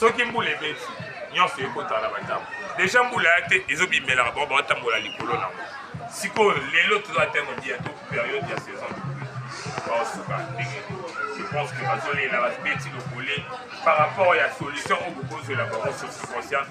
soki mbula ebeti nyonso ekotala na bandako deja mbula ya te ezobimelaka bango baotambola likolo na yango sikoyo lelo toza atteindre bientôt periode ya saison baosuka ndenge je pense que bazolela babeti lokole par rapport ya solution oyo bokozwela bango sosi conscience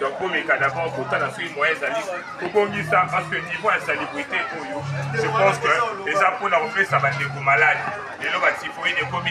donc bomeka d'abord kotala soki moyen ezali kobongisa parce que niveau ya salubrité oyo je pense que eza mpona kopesa bandeko malade lelo batifoine ekomi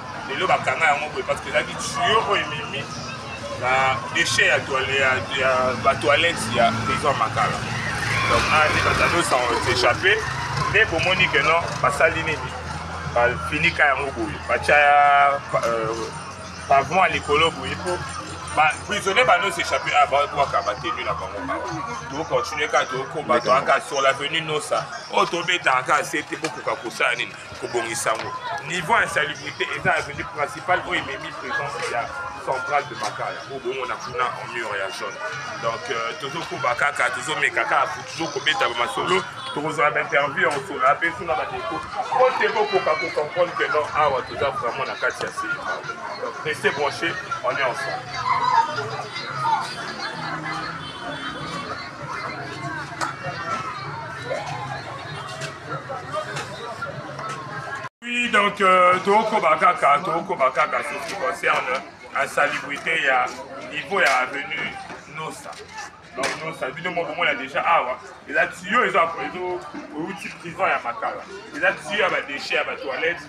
lelo bakanga yango boye parce que ezalaki tuyo oyo ememi na déchet ya batoilette ya maison makala donc aa nde bazali s'échappe nde bomoni ke non basali nini bafinika yango boye batya euh, pavement likolo boye mpo prisonnier bano s'échappe a babwaka batenu na bango mawa tokocontinue kaka tokokoba toaka sur l'avenue nosa oyo tobetaka kaka se te bokoka kosala nini kobongisa yango niveau ya insalubrité eza avenue principale oyo ememi présence ya centrale de makaya oyo bomona kuna en mur ya jaune donc euh, tozokoba kaka tozomeka kaka toujours kobeta bamasolo tokozala bainterview ya kosolo ape suna bandeko po te bokoka kocomprendre que non awa toza vraiment na kati ya cinema donc reste branché on est ensemble Oui, donc euh, tokoba kaka tokoba kaka ce qui concerne insalubrité ya niveau ya avenue Nosa. Donc Nosa bino moko mona déjà awa eza tiyo eza euti prison ya makala eza tiyo ya badeshe ya batoilette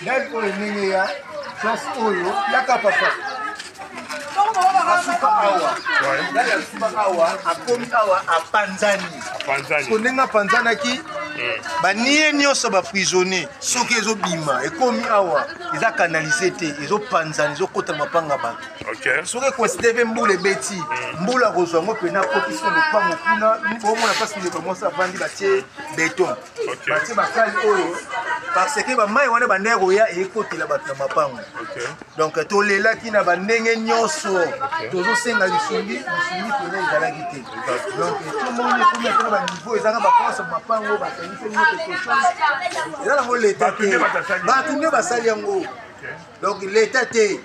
Belle oyo ndenge ya place oyo yaka papa asuka awa yali asuka awa akomi awa apanzani ko ndenge apanzanaki eh. banie nyonso baprisonnier soki ezobima ekomi awa eza kanalise te ezopanzana ezokota mapanga bato soki ekwesiteve mbula ebeti mm. mbula akozwa yango mpena akotisi na lopango kuna bomona mpasi ndeko mwasi avandi batie beton okay. batie bakali oyo parce que bamai wana banda ya koya ekotela bato na mapango okay. donc tolelaki na bandenge nyonso okay. tozosenga lisungi lisungi mpenza ezalaki te donc tomoni ekomi atana baniveau ezaka bakonse mapango bakangisaki quelque chose eza nango leta te bato nde basali yango donc leta te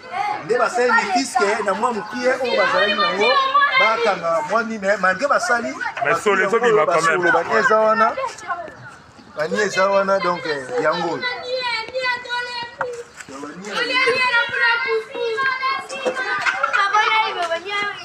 nde basali mifiske na mwa mokie oyo bazalaki nango bakanga mwa nime malgre basali basolobaki eza wana bani eza wana donc eh, yango oyo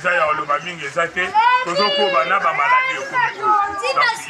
eza ya oloba mingi eza te tozokoba na bamaladi ekomi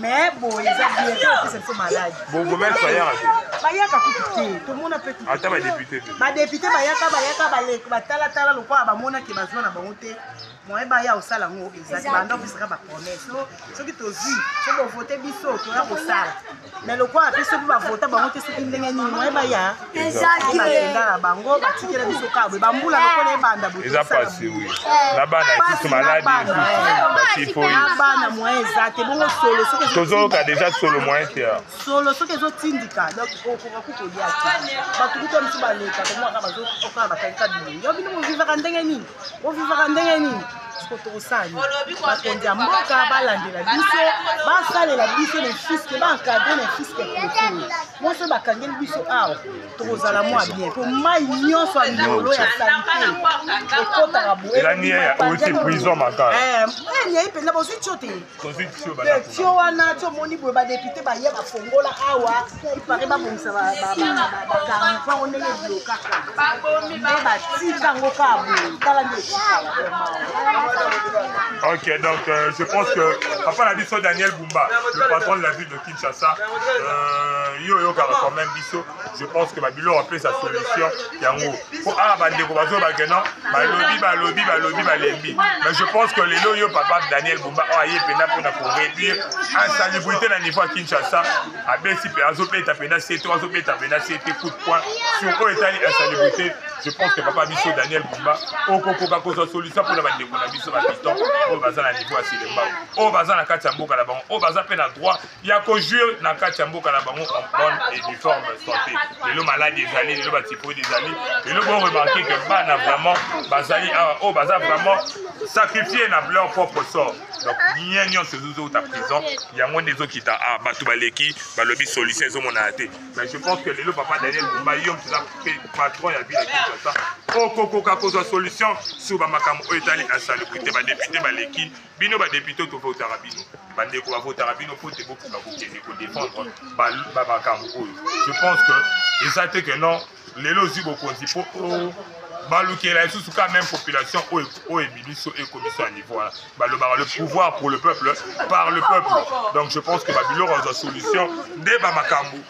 mais boye eza bienpesa biso maladi bogomene bayaka te bayaka kutu te tomona mpe ata badepute te badepute bayaka bayaka baleko batalatala lokola bamonaki bazwa na bango te moye baya kosala yango eza te banda opesaka bapromese soki tozwi so bovote biso toya kosala mais lokola mpe soki bavota bango te soki ndenge nini moye baya balingaka bango batikela biso kabwe bambula lokola ebanda eza pasi wi na bana ekutu maladi ekutubatifoi bana moye eza te bongo solo soki tozoyoka deja solo moye te solo soki ezotindika donc okoka ku kolia te bato kuta mosu baleka komwaka bazokoka bakangika bilenge yo bino movivaka ndenge nini bovivaka ndenge nini siko tokosala nini bakonzi ya mboka balandela biso basalela biso na fiske baencadre na fiske ekokolo nyonso bakangeli biso awa tokozala mwa bien mpo mai nyonso ya likolo ya salite ekotaka boyei mpenza bozwi tio te tio wana ti omoni boye badepute baye bafongola awa ipare babongisa bakampango ndenge eblokaka nde batika yango kaa boye tala nde Ok, donc euh, je pense que papa na biso Daniel Bumba, le patron de la ville de Kinshasa, euh, yo yo quand même biso je pense que babiloko apesa solution yango mpo awa bandeko bazobake non balobi balobi balobi balembi mais je pense que lelo yo papa daniel bumba oyo aye mpenza mpo na koreduire insalubrité na niveau ya kinshasa abesi mpe azobeta mpenza sete azobeta mpenza sete coup de point sur oyo etali insalubrité je pense que papa biso daniel bumba okokoka kozwa solution mpo na bandeko na biso bapiston oyo baza na niveau ya silemba oyo baza na kati ya mboka na bango oyo baza mpe na droit ya kojouir na kati ya mboka na bango en bonne et du forme santé lelo maladi ezali lelo batipoide ezali lelo boremarke ke bana vraiment bazali awa ah, oyo oh, baza vraiment sacrifie na leur propre sort donc nie nyonso ezozouta prison yango nde ezokita a ah, bato baleki balobi solution ezomonana te mais je pense que lelo papa daniel bumba yo moto oza patron ya ville ya kinshasa okokoka kozwa solution sur bamakambo oyo etali insalubrité badepute baleki bino ba depute to votaka bino bandeko bavotaka bino mpo te bokoka kokende kodefendre bamakambo oyo je pense que eza te ke non lelo ozwi bokonzi mpo oh, balukela lisusu ka même population oyo oyo ebimi so ekomi so ya niveau wana balobaka le pouvoir pour le peuple par le peuple donc je pense que babiloko azwa solution nde bamakambo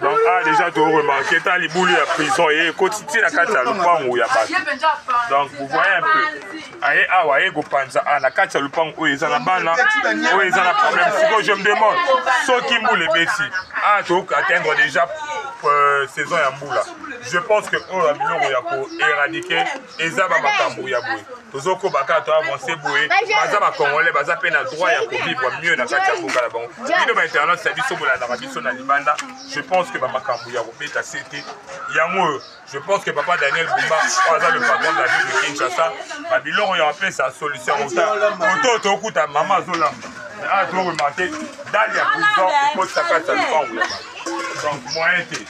donc a ah, déjà toremarke ta libulu ya prison ye ekoti ti na kati ya lopango ya bato donc vous voyez un peu aye awa aye kopanza a na kati ya lopango oyo eza na bana oyo eza na problème sikoyo je me demande soki mbula ebeti a ah, tokoki atteindre déjà euh, saison ya mbula je pense que oyo ya biloko ya koéradike eza ba makambo ya boye tozokoba kaka to avance boye baza bacongolais baza mpe na droit ya kovivre mieux na kati ya mboka na bango bino bainternet ya biso bolandaka biso na libanda je pense que bamakambo ya kobeta se te yango oyo je pense que papa daniel bumba oyo aza le patron de la ville de kinshasa babiloko ya apesa solution oto tokuta mama azolamba awa toremarke dali ya prison ekosakata lipango ya bato donc moyen te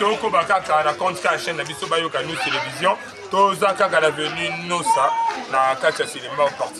tokoba kaka na compte ka chaîne na biso bayoka nous télévision toza kaka na venu nosa na kati ya cinéma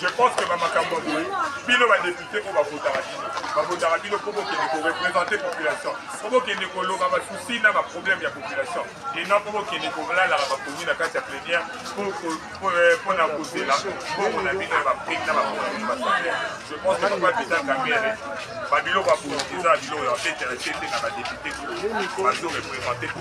Je pense que ba makambo boye bino ba député oyo bavotaka bino bavotaka bino mpo bokende ko représenter population mpo bokende koloba ba souci na ba problème ya population et non mpo bokende kolalaka bakomi na kati ya plénière mpo euh, na kozela mbongo na bino ya baprime na bakongo na bino basalaire je pense que papa pita kamere babiloko ya politisa biloko ya bainteresse te na badepute bazo représenter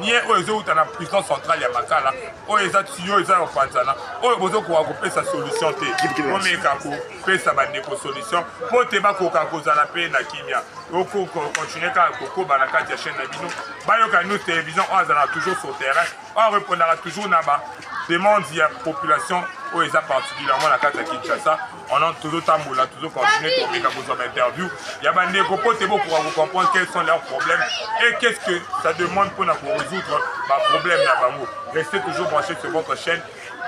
nie oyo ezowuta na prison centrale ya makala oyo eza tiyo eza ya kopanzana oyo bozokoka kopesa solution te komeka kopesa bandeko solution mpo te bakoka kozala mpe na kimia okontinue kaka kokoba na kati ya chaîne na bino bayoka news télévision oyo azalaka toujours sur terrain oyo arepondaka toujours na ba demande ya population oyo eza particulièrement na kati ya kinshasa wana tozotambola tozocontinue tomeka kozwa bainterview ya bandeko mpo te bokoka kocomprendre quels sont leurs problèmes et qu'est ce que ça demande mpo na korésoudre baproblème na bango restez toujours branché sur votre chaîne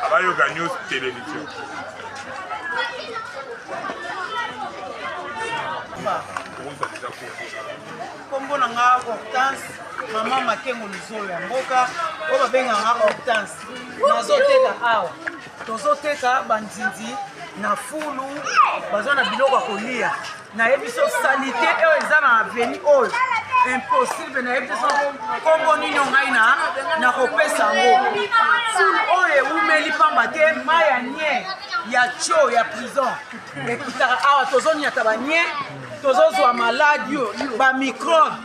abayoka news télévision nkombo na nga hortense mama makengo luzolo ya mboka oyo babengaka nga hortense nazoteka awa tozoteka bandindi na fulu baza na biloko ya kolia nayebi biso salite oyo eza na aveni oyo impossible nayebi biso nkombo nini o ngai na nakopesa yango fulu oyo ewumeli mpamba te mai ya nie ya tio ya prison ekitaka awa tozonyata banie tozozwa maladi oyo bamicrobe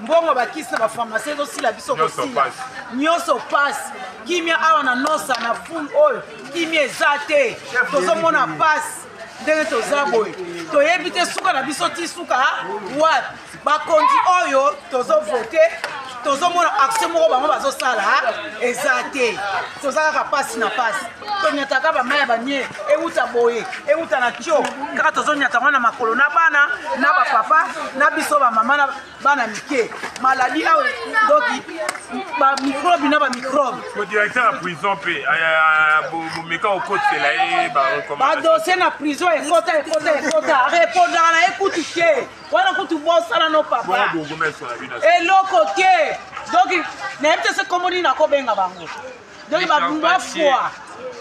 mbongo bakisi na bapharmacie ezosila biso kosila nyonso pasi kimia awa na nosa na ful oyo kimia eza te tozomona pasi ndenge toza boye toyebi te suka na biso ti suka wapi bakonzi oyo tozovote tozomona action moko bango bazosala eza te toza kaka pasi na pasi tonyataka bamai ya banie euta boye euta na tio kaka tozonyata yango na makolo na bana na bapapa na biso bamama na bana mike maladi awa doki bamikrobe na bamikrobe directeur ya prison mpe bomeka kokotela ye badosie na prison ekota ekota ekota repondaka na ye kutu te wana kutu bosala no papa eloko te doki nayebi te se kombo nini nakobenga bango donc babulu bafwa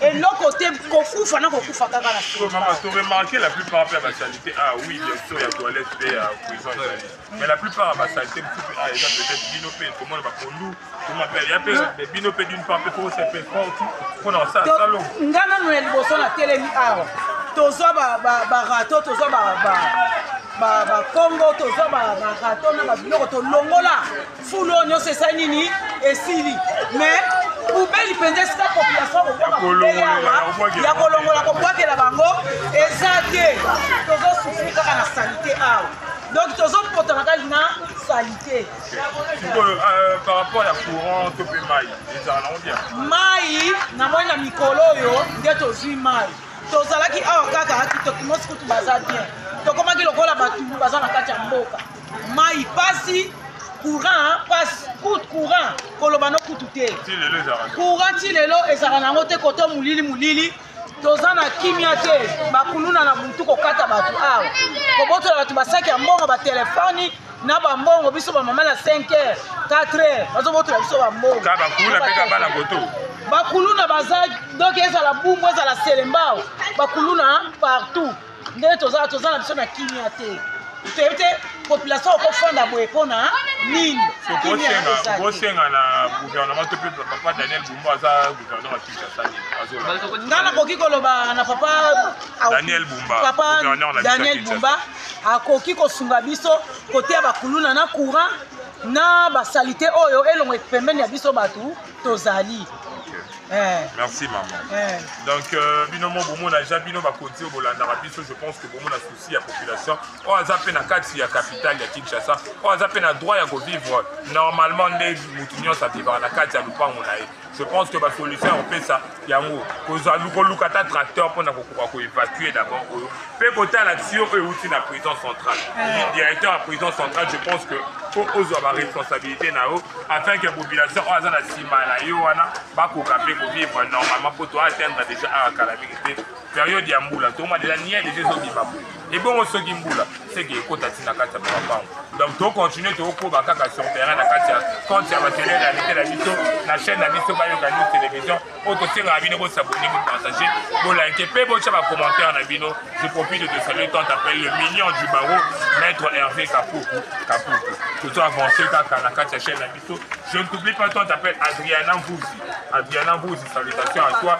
eloko te kokufa na kokufa kaka na toremarke la plupart mpe ya basalite ah oui bien sûr ya toilette mpe ya prison ezali mais la plupart ya basalite mosusu mpe ah eza peut-être bino mpe komona bapondu komapele ya mpe bino mpe d'une part mpe kokosa mpe forti mpo na kosala salon nga nano ya liboso na telemi awa tozwa barato tozwa bakongo tozwa barato na babiloko tolongola fulu oyo nyonso esali nini esili mais poubeli mpenza esika population akoawa ya kolongola kobwakela bango eza te tozosufri kaka na salite awa donc tozopotana kaka na salite sikoyo euh, par rapport ya courant to mpe mai ezala nango bien mai namoni na mikolo oyo nde tozwi mai tozalaki awa kaka kitoki mosi kutu baza bien tokomaki lokola bato baza na kati ya mboka mayi pasi courant pasi cout courant koloba no kutu te courant ti lelo ezalaka nango te koto molili molili toza na kimia te bakuluna na butu kokata bato awa kobotola bato basaki ya mbongo batelefoni na bambongo biso bamama na 5 heures 4 heures bazobotola biso bambongo bakuluna baza doki ezala bumbu ezala selembao bakuluna partout nde toza toza na biso na kimia te toyebi te population okofanda boye mpona nini bosenga na gouvernement to mpe papa daniel bumba aza gouverneur ya kinshasa ngai nakoki koloba na papa daniel bumba papa daniel bumba akoki kosunga biso koteya bakuluna na courant na basalite oyo elongo pembeni ya biso bato tozali Eh. merci maman eh. donc euh, bino mo bomona deja bino bakonzi oyo bolandaka biso je pense que bomona souci ya population oyo aza mpe na kati ya capitale ya kinshasa oyo aza mpe na droit ya kovivre normalement nde motu nyonso avivaka na kati ya lopango na ye je pense que basolution ya kopesa yango kozwa koluka ata tracteur mpona kokoka koevacue d'abord oyo mpe kotala tio oyo euti na prison centrale ah. directeur ya prison centrale je pense que fo ozwa baresponsabilité na yo afin que population oyo aza na nsima na yo wana bakoka mpe kovivre normalement mpo toatteindre déjà awa kala mingi te periode ya mbula toma deja nie deja ezobima boye ebongo soki mbula seke ekota ti na kati ya bamapango donc tocontinue tokokoba kaka sur terrain na kati ya compte ya batele réalité na biso na chaîne na biso bayoka news télévision oyo tosengaka bino bosabone bopartage bolinke mpe botya bacommentaire na bino je profite de saluer tant appel le million du baro maître hervé kapuku kapuku tozo avance kaka na kati ya chaîne na biso je ne t'oublie pas tant appel adriana mvuzi adriana mvuzi salutation à toi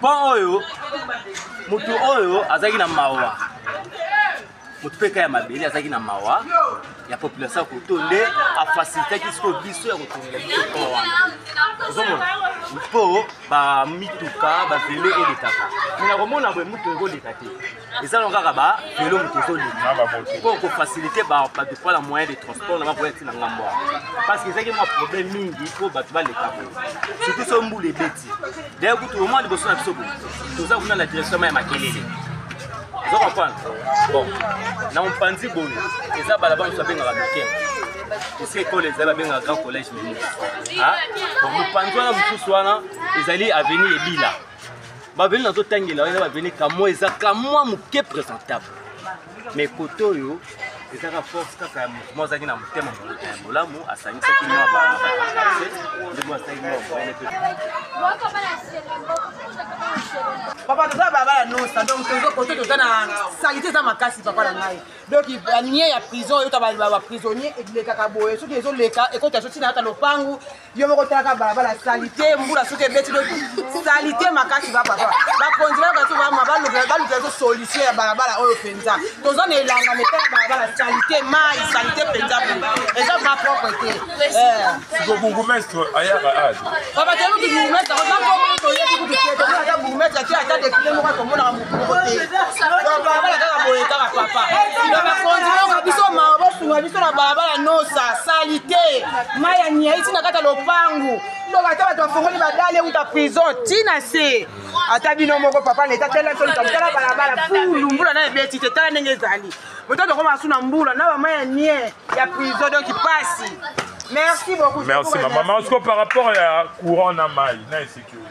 mpo oyo motu oyo azalaki na mawa motu mpe ka ya mabele azalaki na mawa ya population ya koto nde afasilitaki sikoyo biso ya kotongela biso mpo wana ozomona mpo bamituka bavelo elekaka me nakomona boye motu ekoleka te eza nango kaka ba velo moto ezoleka mpo kofacilite bato mpona moyen de transport na bakoya ntina ngambo wana parce que ezalaki mwa problème mingi mpo bato baleka boye surtout so mbula ebeti daya kutu omwa liboso na biso boye toza kuna na direction ma ya makelele ozo comprendre bon na mopanzi boye eza balabala mosu abengaka lokengo esika ekolo ezali babengaka grand collège mini ah, bon mopanzi wana mosusu wana ezali avenue ebila baveni nazotangela wana baveni kamwa eza kamwa moke présentable mais kote oyo ezaka force kaka ya moto mwa azalaki na motema ya bolamu asangisaki mwa baase ndenge asalaki mwa moyene mpe papa toza babala nosa donc tozokote toza na salite eza makasi papa na ngai donc banie ya prison oyo ta baprisonnier elekaka boye soki ezoleka ekota sotina ata lopangu yo moko talaka balabala salite mbula soki ebeti do salite makasi ba papa bakonzi balukela so solution ya balabala oyo mpenza toza na elanga metala balabala salite mai salite mpenza eza ma propre te siko eh. bourgmestre ayaka age papa toyebi bourgmestre oza komotoyebi kutu te tomonaka bourgmestre te ata depute moko tomonaka basunga biso na balabala nosa salite mai ya nyai ntina kata lopangu donc ata bato bafongoli badale euta prison ntina se ata bino moko papa leta tela tolitala balabala pulu mbula na ebeti te tala ndenge ezali boto tokoma asu na mbula na bamai ya nie ya prison donc pasi merci beaucoup merci mama maman siko par rapport ya courant na mai na insécurité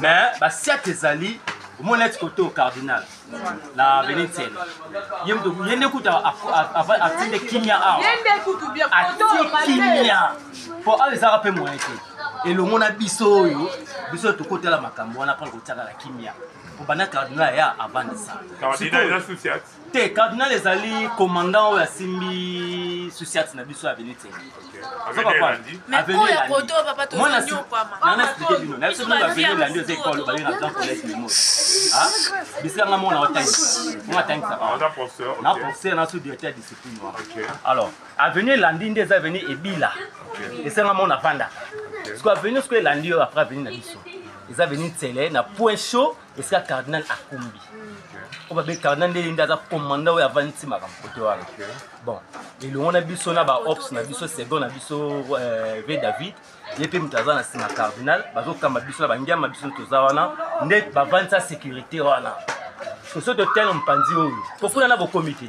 mais basiate ezali omoni neti kote o cardinal na venetiel ye moto ye nde kuta atinde kimia awa atie kimia mpo awa ezalaka mpe moyen te elongo na biso oyo biso tokotela makambo wana mpona kotiaka na kimia mpo banda cardinal ya avandisa te cardinal ezali commandant oyo asimbi susiati na biso ya venite elandi eza ekolo baye na grand collège memo bisilanga moko naotangisa professeur na sous directeur ya discipline wana alors avenue elandi nde eza avenue ebila esanga moko nafanda siko avenue siko elandi yo après avenue na biso eza avenue nsele na point chaud esika cardinal akumbi oyo babe cardinal ndeli nde aza commanda oyo avandisi makambo kote wana bon elongo na biso na baops na biso second na biso euh, v david ye mpe moto aza na nsima cardinal bazokamba biso na bangiama biso toza wana nde bavandisa sécurité wana soso totele mopanzi oyo kokuna na bokomi te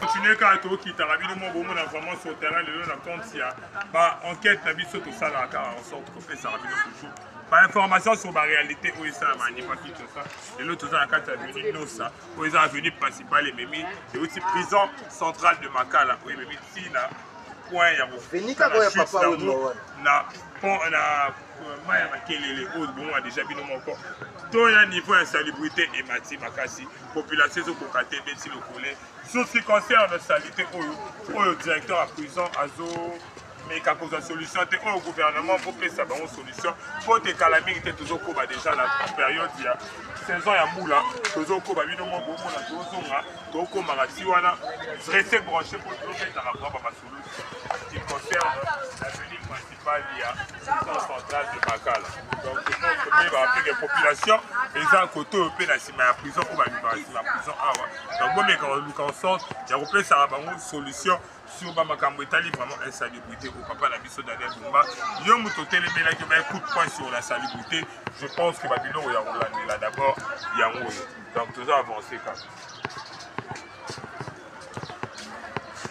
continue kaka tokitaka bino moko bomona vraiment sur terrain lelo na compte ya ba enquête na biso tosalaka kaka en sorte kopesaka bino toujours bainformation sur baréalité oyo esalama na niveau kinshasa lelo toza na kati ya avenue nosa oyo eza avenue principale ememi euti prison centrale de makala oyo ememi ntina point ya kofuta na pont na Maya makelele oyo libongo deja bino moko to ya niveau ya salubrité emati makasi population ezokoka te ebeti lokole sur ce concerne salite oyo oyo directeur ya prison azo meka kozwa solution te oyo gouvernement bopesa bango solution mpo te kala mingi te tozokoba deja na periode ya saison ya mbula tozokoba bino moko omona tozonga tokomaka ti wana reste branche mpo tozobetaka vraba eza kote oyo mpe na nsima ya prison oyo babima na nsima ya prison awa donc bomeka koluka ensorte ya kopesaka bango solution sur bamakambo etali vraiment insalubrité o papa na biso daniel bumba yo moto otelemelaki ba coup de point sur la salubrité je pense que babiloko ya kolandela d'abord yango oyo donc toza avance kaka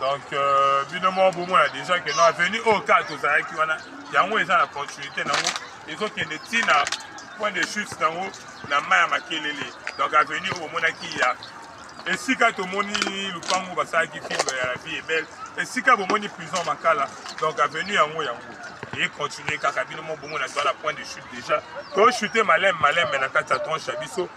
donc euh, bino moko bomona déjà que na aveni oyo oh, kaka tozalaki wana yango eza na continuité nango ezokende ntina point de chute nango na mai ya makelele donc aveni oyo oh, bomonaki ya esika tomoni lupango basalaki filme ya la vie ebele esika bomoni prison makala donc aveni yango yango econtinue kaka bino mo bomona toa na point de chute déjà tochute maleme maleme na kati ya tronche ya biso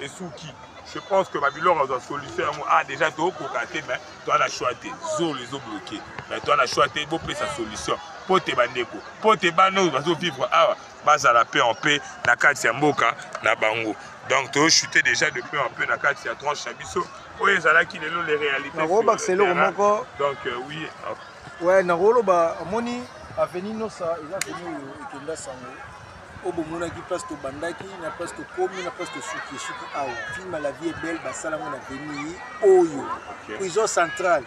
esuki je pense que babiloko azwa solution yango ah déjà tokoka te mais toa na choix te zolo ezobloke mais toa na choix te bopesa solution mpo te bandeko mpo te bana oyo bazovivre awa bazala mpe en paix na kati ya mboka na bango donc toyochute déjà de peu en peu na kati ya tranche na biso oyo ezalaki lelo le réalité nakobakisa eloko moko donc euh, oui ouais nakoloba amoni aveni nosa eza aveni oyo ekenda sango oyo bomonaki place tobandaki na place tokomi na place tosuki esuki awa film la vie est belle basala ngo na venii oyo prison centrale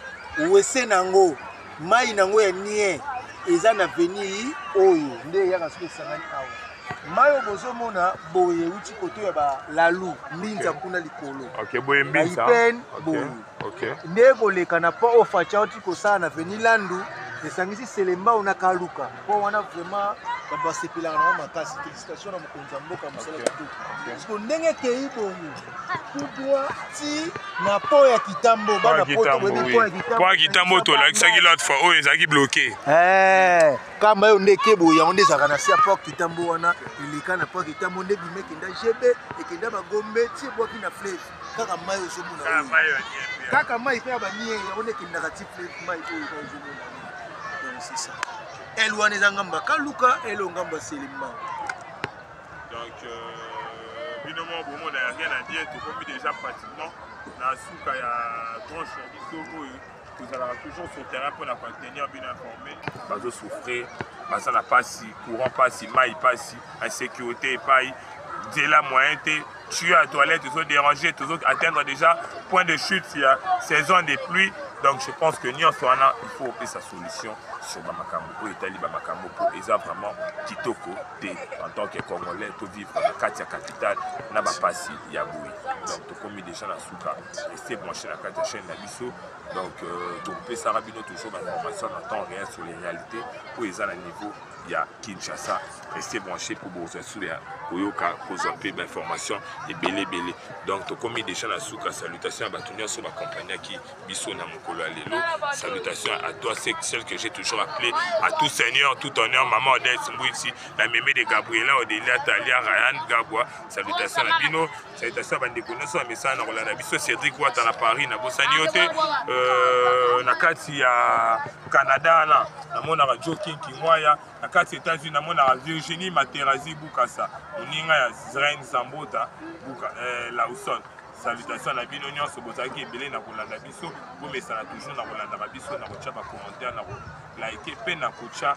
wese na yango mai na yango ya nie eza na venii oyo nde eyaka soki esangani awa mai oyo bozomona boye euti koto ya balalu mbinza kuna likolo boye mbinza boye okay. nde ekoleka na pont oyo faci auti kosala na veni landu esangisi selembao na kaluka mpo wana vraiment bato basepelaka nango makasi félicitation na mokonzi ya mboka mosala kitoko siko ndenge ekei bongo kudwa ti na po ya kitambo bana po ya kitambo tolakisaki late fois oyo ezalaki bloke eh, kamba yo nde ekebo yango nde ezalaka na se ya po ya kitambo wana eleka na po ya kitambo nde bima ekenda gb ekenda bagombe ti ebwaki na fleve kaka mai ozomona kaka mai mpe ya banie yango nde ekendaka ti mpe mai mpe oyo ozomona donc c'est ça ele wana eza ngamba kaluka ele ngamba selema donc euh, bino moko bomona ya rien na bien tokomi déjà pratiquement na suka ya tranche ya biso oyo tozalaka toujours sur terrain mpo na kointenir bino informe bazo souffrir baza na mpasi courant mpasi mai mpasi insécurité epai nzela moyen te tuyau ya toilette ezo déranger tozo atteindre déjà point de chute ya saison des pluies donc je pense que nyonso wana il faut opesa solution sur bamakambo oyo etali bamakambo mpo eza vraiment kitoko te en tant que congolais tovivre na kati ya capitale na bapasi ya boye donc tokomi déjà na suka reste branche na kati ya chaîne na biso biso donc euh, topesaka bino toujours bainformation na temps réel sur les réalité oyo eza na niveau ya kinshasa reste branché mpo bozwa sur ya koyoka kozwa mpe bainformation ebele ebele donc tokomi déjà na suka salutation ya bato nyonso bakompagnaki biso na mokolo ya lelo salutation à toi c'est celle que j'ai toujours appelé à tout seigneur tout honneur maman odès mbwisi la meme de gabriela odelia talia ryan gabwa salutation na bino Salutations à bandeko nyonso ya mesana na kolanda biso Cedric Wata na Paris na bosani yo te euh, na kati ya Canada wana namonaka Joe King Kimwaya na kati ya États-Unis namonaka Virginie Materazzi Bukasa moninga ya Zrain Zambota Buka, euh, Lawson salutation na bino nyonso bozalaki ebele na kolanda biso bomesana toujours na kolandaka biso na kotya bacommentaire na kolike mpe na kotya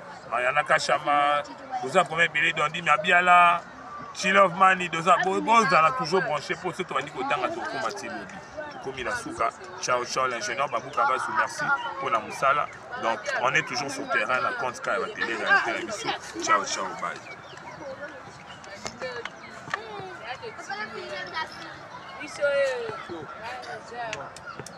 Mariana Kashama, boza koma ebele Dondi Mabiala, Chilov Mani, doza bozala toujours branché mpo soki tobandi kotanga tokoma ti lobi tokomi na suka. Ciao ciao l'ingénieur Babou Kabasu, merci mpo na mosala. Donc on est toujours sur terrain na compte kaya batele réalité na biso. Ciao ciao bye. Isso eu.